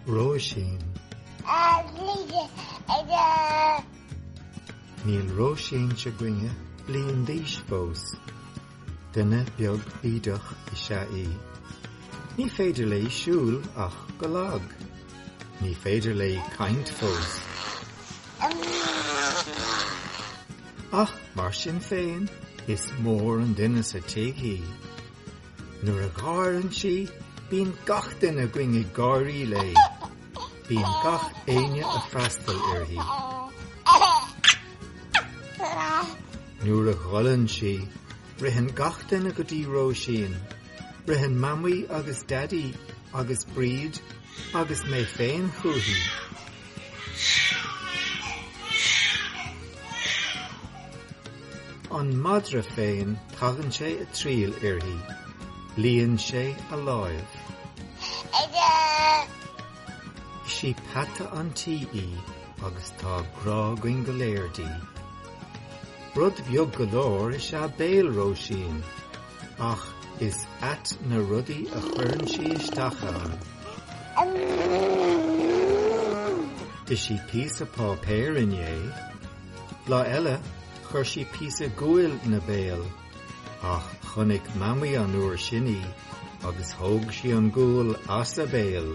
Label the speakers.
Speaker 1: Róisín. Níl Róisín seo againne bliain d'aois fós. Duine beag bídeach is ea í. Ní féidir léi siúl ach go lag. Ní féidir léi caint fós. Ach mar sin féin, is mór an duine sa tigh í. Nuair a gháireann sí, bíonn gach duine againn ag gáirí léi. Bíonn gach éinne a' freastal uirthi. Nuair a ghoilleann sí, ritheann gach duine go dtí Róisín. Ritheann Mamaí agus Daidí agus Bríd agus mé féin chuici. An madra féin tagann sé ag triall uirthi. Líonn sé a láimh. Is í peata an tí í agus tá grá againn go léir di. Rud beag go leor is ea béal Róisín. Ach is ait na rudaí a chuireann sí isteach ann. D'ith sí píosa páipéir inné. Lá eile, chuir sí píosa guail ina béal. Ach chonaic Mamaí an uair sin í agus thóg sí an gual as a béal.